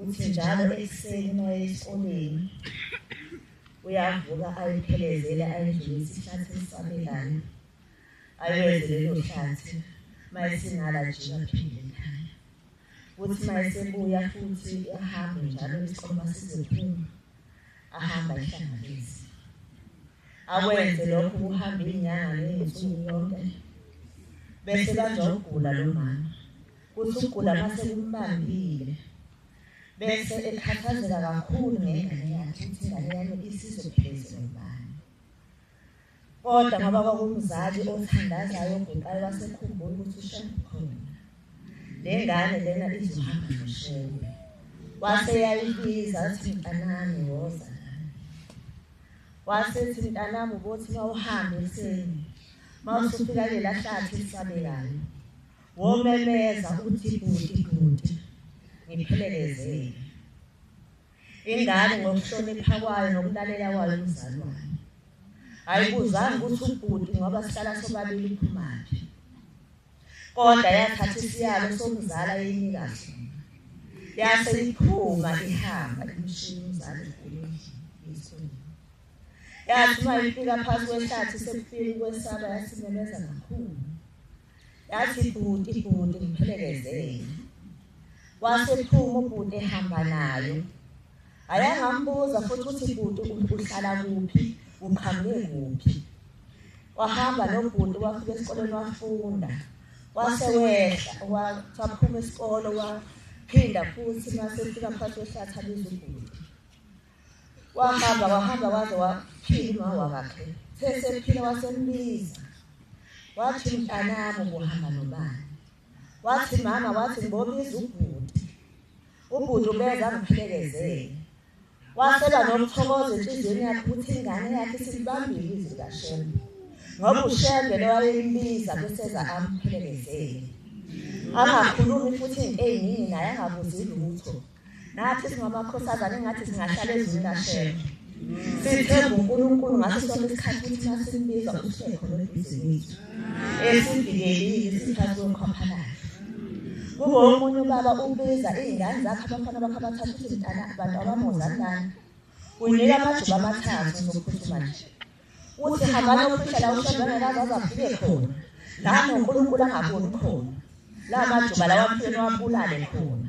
Uthi njalo ekuseni uma eya esikoleni uyavuka ayiphelezele ayidlule isihlathi esisabelayo ayoze lelo hlathi uma esingala nje aphinde ekhaya kuthi uma esebuya futhi ahambe njalo isiqoma sizophuma ahamba ehlanganise akwenze lokho kuhamba inyanga nezinsuku yonke bese banjogula lo mama Kuthi ukugula uma sekumbambile bese ekhathazeka kakhulu ngengane yakhe ukuthi ingane yami isizophezwa ubani. Kodwa ngoba kwakumzali othandazayo oguqayo wasekhumbula ukuthi ushembe khona. Le ngane lena izohamba noshembe. Wase yayibiza athi mntanami woza wasethi mntanami ubothi mawuhambe ekuseni mawusufika lela hlathi elisabekayo Womemeza uthi bhuti bhuti ngiphelekezele. Ingane ngokuhlonipha kwayo nokulalela kwayo umzali wayo. Ayibuzanga ukuthi ubhuti ngoba sihlala sobabili uphumaphi. Kodwa yathatha isiyalo somzala yeyinika sona. Yase iphuma ihamba imshini umzali ukhuluma isona. Yathi uma ifika phansi kwehlathi sekufika ukwesaba yasimemeza kakhulu. Yathi bhuti bhuti ngiphelekezele. Wasephuma ubhuti ehamba nayo. Ayangambuza futhi ukuthi bhuti uhlala kuphi, uqhamuke kuphi. Wahamba nobhuti wafika esikoleni wafunda. Wase wehla waphuma isikole waphinda futhi masefika phakathi wehlathi abiza ubhuti. wahamba wahamba waze waphila uma wakhe sesephila wasembiza wathi mntanami ubuhamba nobani wathi mama wathi ngibobiza ubhuti ubhuti ubeza ngiphilekezele waseba nomthokozo enhliziyweni yakhe ukuthi ingane yakhe silibambile izwi kashembe ngoba ushembe lowayembiza kuseza amphelekezele angakhulumi futhi into eyiningi naye angabuzi lutho Nathi singamakhosazana engathi singahlala ezweni kaShembe. Sithemba uNkulunkulu ngaso sonke isikhathi ukuthi masimbiza uShekho lobhizi wethu. Esivikelile isikhathi somkhwaphalayo. Kubo omunye ubaba ubiza izingane zakhe abafana bakhe abathathu ukuthi mntana abantu abamozalana. Unika amajuba amathathu zokuphuthuma nje. uthi hambana uphishela ushembe ngekaze azafike khona la nonkulunkulu angaboni khona la majuba lawa mfeni wabulale khona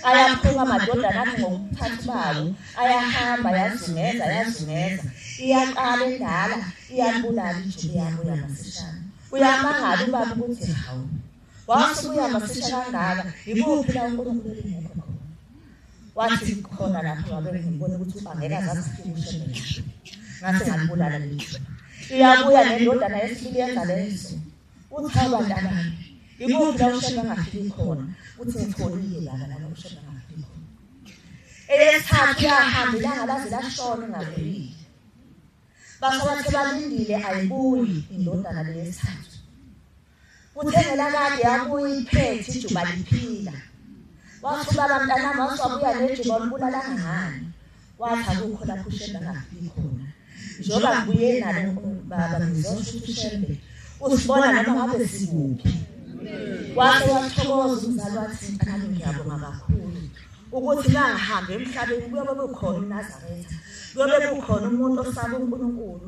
ayaphuka amadodana athi ngokuphathi bawo ayahamba yazungeza yazungeza iyaqala endala iyabulala ijuba yabo yamasishana uyamangala ubaba ukuthi hawu Wasubuya masisha kangaka, yikuphi la uNkulunkulu engekho khona? Wathi khona lapho ngabe ngibona ukuthi uba ngeke azazifikushe ngisho. Ngathi ngalibulala lishwa. Iyabuya nendodana yesibili yenza lezo. Uthi cha bantu abanye. Yikuphi la ushebe angafiki khona? Uthi ngitholile lana la ushebe angafiki khona. Eyesithathu yahamba ilanga laze lashona ingabuyile. Basabathe balindile ayibuyi indodana leyesithathu. Kuthengela kade yabuya iphethe ijuba liphila. Wathi ubaba mntanami wasuwabuya nejuba olibulala ngani. Wathi akukho lapho ushembe angafiki khona. Njengoba ngibuye nalo baba ngizosho ukuthi ushembe usibona noma ngabe sikuphi. Wathi wathokoza umzali wathi mntanami ngiyabonga kakhulu ukuthi nangihambe emhlabeni kuyobe kukhona uNazaretha. Kuyobe kukhona umuntu osaba uNkulunkulu.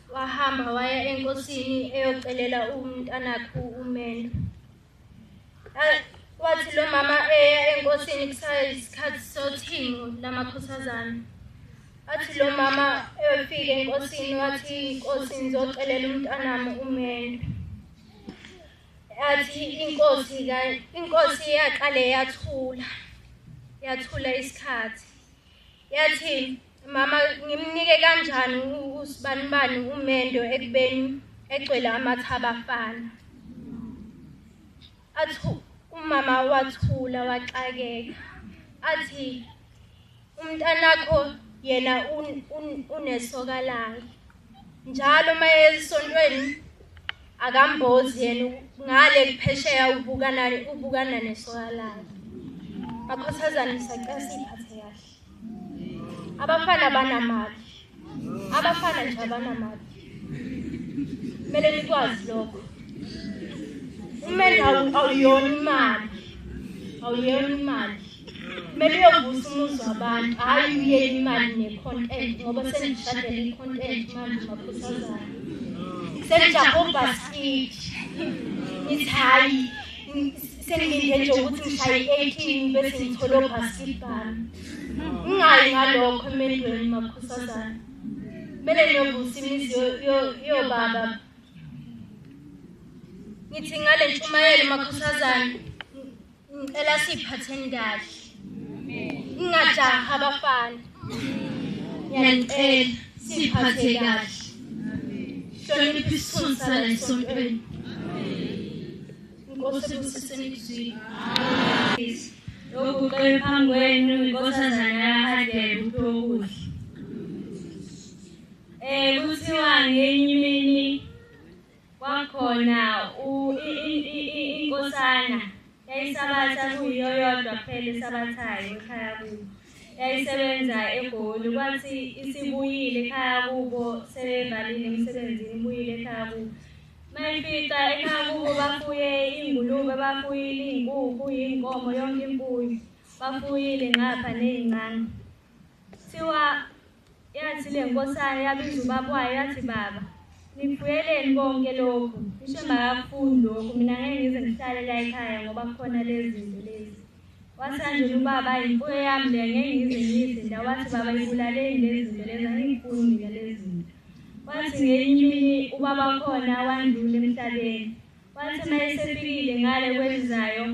wahamba waya enkosini eyocelela umntanakhe umendo wathi lo mama eya enkosini kusayisikhathi sothingo lamakhosazana athi lo mama efike enkosini wathi inkosi ngizocelela umntanami umendo athi inkosi inkosi yaqale yathula yathula isikhathi yathi mama ngimnike kanjani usibanibani umendo ekubeni egcwele amathaba afana athi umama wathula waxakeka athi umntanakho yena unesoka lakhe njalo uma esontweni akambozi yena ngale kuphesheya ubukana ubukana nesoka lakhe bakhothazane sacela siphathe kahle abafana banamali abafana nje abanamali kumele nikwazi lokho umenda awuyona imali awuyona imali kumele uyovusa umuzi wabantu hhayi uye imali ne-content ngoba sendishadele i-content manje makhosazana sendijahe obhaskidi ngithi hhayi sengilinde nje ukuthi ngishaye i-eighteen bese ngithole obhaskili bami ngingayi ngalokho emendweni makhosazana kumele niyovusa imizi yobaba ngithi ngale ntshumayelo makhosazana ngicela siyiphatheni kahle ngingajahi abafana ngiyanicela siyiphathe kahle hlonipha isithunzi sala esontweni Inkosi ibusiseni izwi. Amen. Lokhu ucele phambi kwenu inkosazana yaHadebe uTokuhle. Eh kuthiwa ngenye imini kwakhona inkosana yayisabatha kuyiyo yodwa kuphela esabathayo ekhaya kubo. Yayisebenza eGoli kwathi isibuyile ekhaya kubo sebevalile emsebenzini ibuyile ekhaya kubo. Mayifika ekhaya kubo bafuye ingulube, bafuyile iy'nkukhu, iy'nkomo, yonke imfuyo. Bafuyile ngapha ney'ncane. Kuthiwa yathi le nkosana yabiza ubaba wayo yathi baba nifuyeleni konke lokhu ngisho engakakufundi lokhu mina ngeke ngize ngihlale la ekhaya ngoba kukhona lezi zinto lezi Wasanjena ubaba imfuyo yami le ngeke ngize ngiyizinda wathi baba ibulaleni lezi zinto lezi angiyifuni mina lezi zinto wathi ngenye imini ubaba wakhona wandlula emhlabeni wathi uma esefikile ngale kwelizayo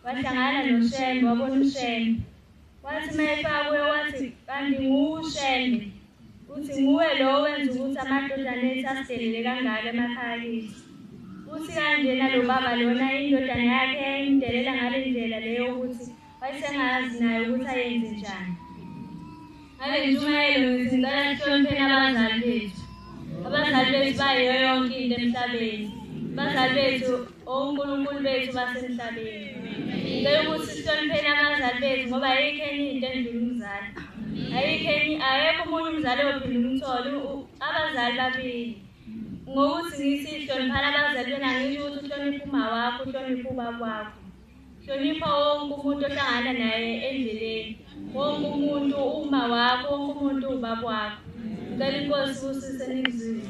wahlangana noshembe wabona ushembe wathi uma efakwe wathi kanti ngushembe Uthi nguwe lo owenza ukuthi amadodana ethu asidelele kangaka emakhaya kithi. Uthi kanjena lo baba lona indodana yakhe yayimdelela ngale ndlela leyo ukuthi wayesengazi naye ukuthi ayenze njani. Ngale ntshumayelo ngithi ngicela sihlonipheni abazali bethu. Abazali bethu bayiyo yonke into emhlabeni. Abazali bethu onkulunkulu bethu basemhlabeni ngicela ukuthi sihlonipheni abazali bethu ngoba ayikho enye into endlula umzali ayikho enye akekho omunye umzali ophinde umthole abazali babili ngokuthi ngithi hloniphana abazali bena ngisho ukuthi uhloniphe uma wakho uhloniphe ubaba wakho hlonipha wonke umuntu ohlangana naye endleleni wonke umuntu uma wakho wonke umuntu ubaba wakho ngicela inkosi usise ningizwile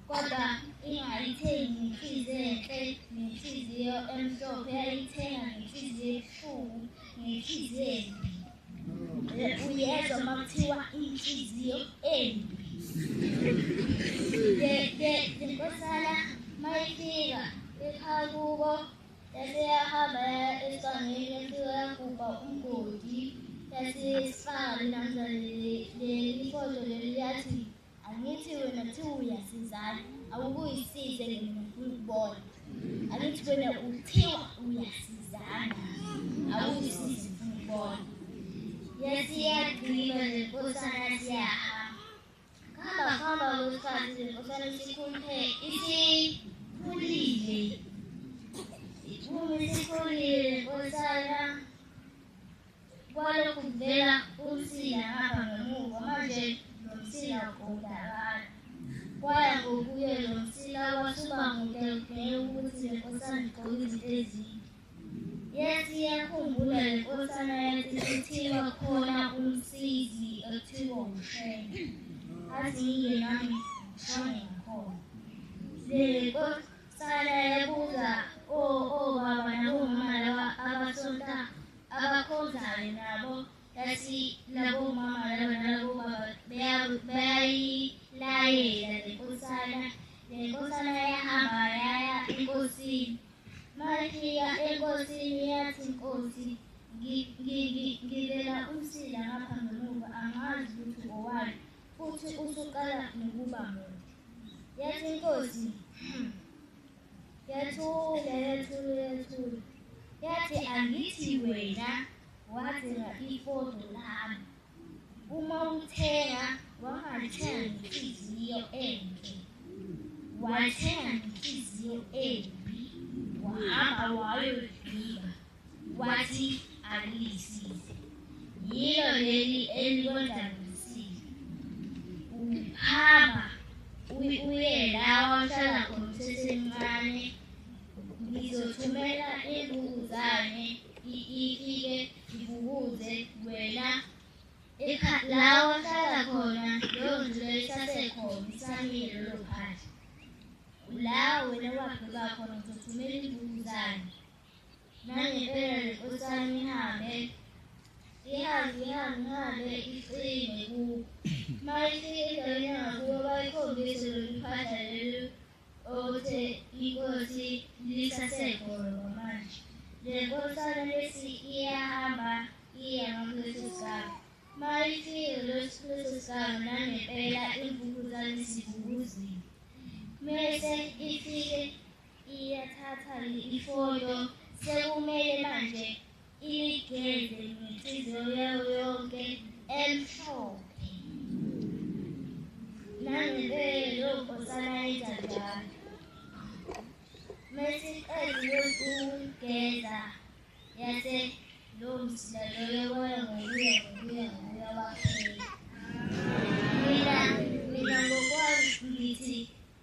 Kodwa ingayithengi ngenhliziyo enhle, ngenhliziyo emhlophe, yayithenga ngenhliziyo ebuhlungu, ngenhliziyo embi. Uyezwa uma kuthiwa inhliziyo embi. Inkosana mayifika ekhaya kubo yase yahamba esangweni yase yagubha umgodi yase sifaka namhlanje leli foto leli yathi Angithi wena kuthiwa uyasizana awuke uyisize ngemina ngifuna ukubona. Angithi wena kuthiwa uyasizana awuyisize ngifuna ukubona. Yasiyagqiba le nkosana siyahamba. Hamba hamba kwesikhathi le nkosana isikhuluphe isikhulile. Iphume isikhulile le nkosana. Kwalokhu kuvela umsila ngapha ngemuva manje lo msila udakala. Kwaya ngokuye lo msila wasuba mude kudingeka ukuthi le nkosana igqoke izinto ezinde. Yathi yakhumbula le nkosana yathi kuthiwa khona umsizi ekuthiwa ushenge. Athi yiye nami shone ngakhona. Le nkosana yabuza obaba oh, oh, nabomama laba abasonta abakhonzayo nabo yathi labo mama laba nalabo baba beyayilayela le nkosana le nkosana yahamba yaya enkosini mafika enkosini yathi nkosi ngibela umsila ngapha ngemuva angazi ukuthi ngowani futhi usuqala nokuba muntu yathi inkosi hmm, Yathula, yathula, yathula. Yathi angithi wena wathenga ifodo lami. Uma uthenga wangathenga ngenhliziyo enhle. Wathenga ngenhliziyo embi wahamba wayodliwa. What if alilisize? Yilo leli elikwenzakalisile. Uphamba uye lawa ohlala khona usesemncane. Ngizothumela imbuzane ifike ivukuze wena lawa ohlala khona leyo ndlu leyo isasekhona isamile lolo phandle. La wena wabheka khona uzothumela imbuzane. Nangibele usani hambe ihambe ihambe ihambe iqine ku mayisi indaweni yangakubo bayikhombise lolu phahla lolu okuthe inkosi lisasegolo kwamanje le nkosana lesi iyahamba iya ngakweso sigaba mayifike lesi kweso sigaba nangempela imvukuzane sivukuzile mese ifike Iyathatha ifoto sekumele manje igeze ngenhliziyo yayo yonke emhlophe nangempela leyo nkosana yenza njalo mesiqedile ukugeza yase lowo msila loyo waya ngokuya ngokuya ngokuya waphela mina mina ngokwami ngithi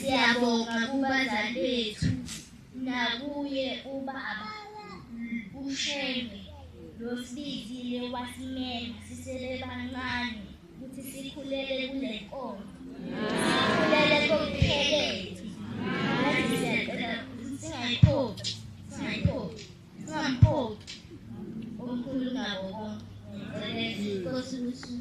siyabonga kubazali bethu nakuye ubaba ushembe losibizile wasimema sisebebancane ukuthi sikhulele kule nkonzo sikhulele kokuphelele Singamphoqi omkhulu nabo bonke. Ngicelele inkosi ukuthi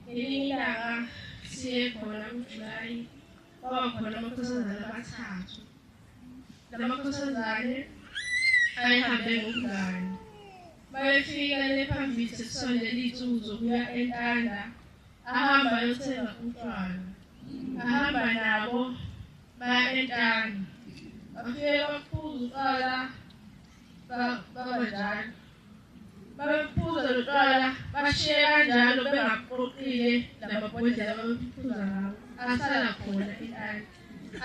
Elinye ilanga siye khona kuJulayi kwaba khona amakhosazane abathathu. Lamakhosazane ayehambe ngobungane. Bayefika lephambili sesisondele izinsuku zokuya entanda Ahamba ayothenga utshwala. Ahamba nabo baya entanga. Bafike baphuza utshwala baba njalo. Babephuza lo tshwala bashiye kanjalo bengaqoqile namabhodlela babephuza ngawo. Asala khona entanga.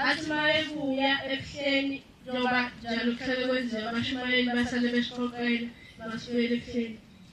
Athi uma ebuya ebuhleni njengoba njalo kuhlale kwenziwa abashumayeli basale besiqoqela basibuyele ebuhleni.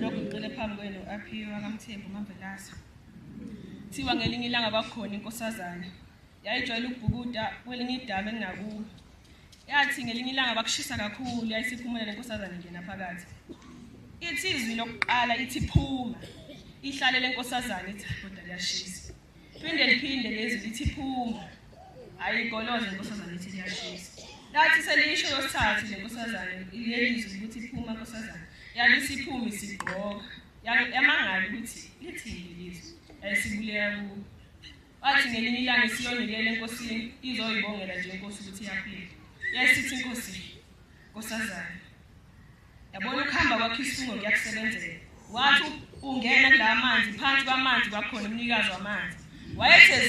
lokhu ngiqile phambi kwenu aphiwe akamthembi umamvelasa kuthiwa ngelinye ilanga kwakhona inkosazana yayijwayele ukubhukuda kwelinye idaba elinakubo yathi ngelinye ilanga bakushisa kakhulu yayisiphumela le nkosazane ngena phakathi ithi izwi lokuqala ithi phuma ihlale le nkosazane ithi doda liyashisa Phinde liphinde lezi lithi phuma. Ayigoloze nkosazana ithi liyashisa. Lathi selisho losithathu lenkosazana ilelizwe ukuthi phuma nkosazana. Yabe siphumi sigqoka. Yamangala ukuthi lithini lizwe. Ayisibulela ku. Wathi ngelinye ilanga siyonikela enkosini izoyibongela nje inkosi ukuthi yaphila. Yayisithi inkosi nkosazana Yabona ukuhamba kwakho isungo kuyakusebenzela. Wathi ungena kulamanzi phansi kwamanzi kwakhona umnikazi wamanzi. Wayetheza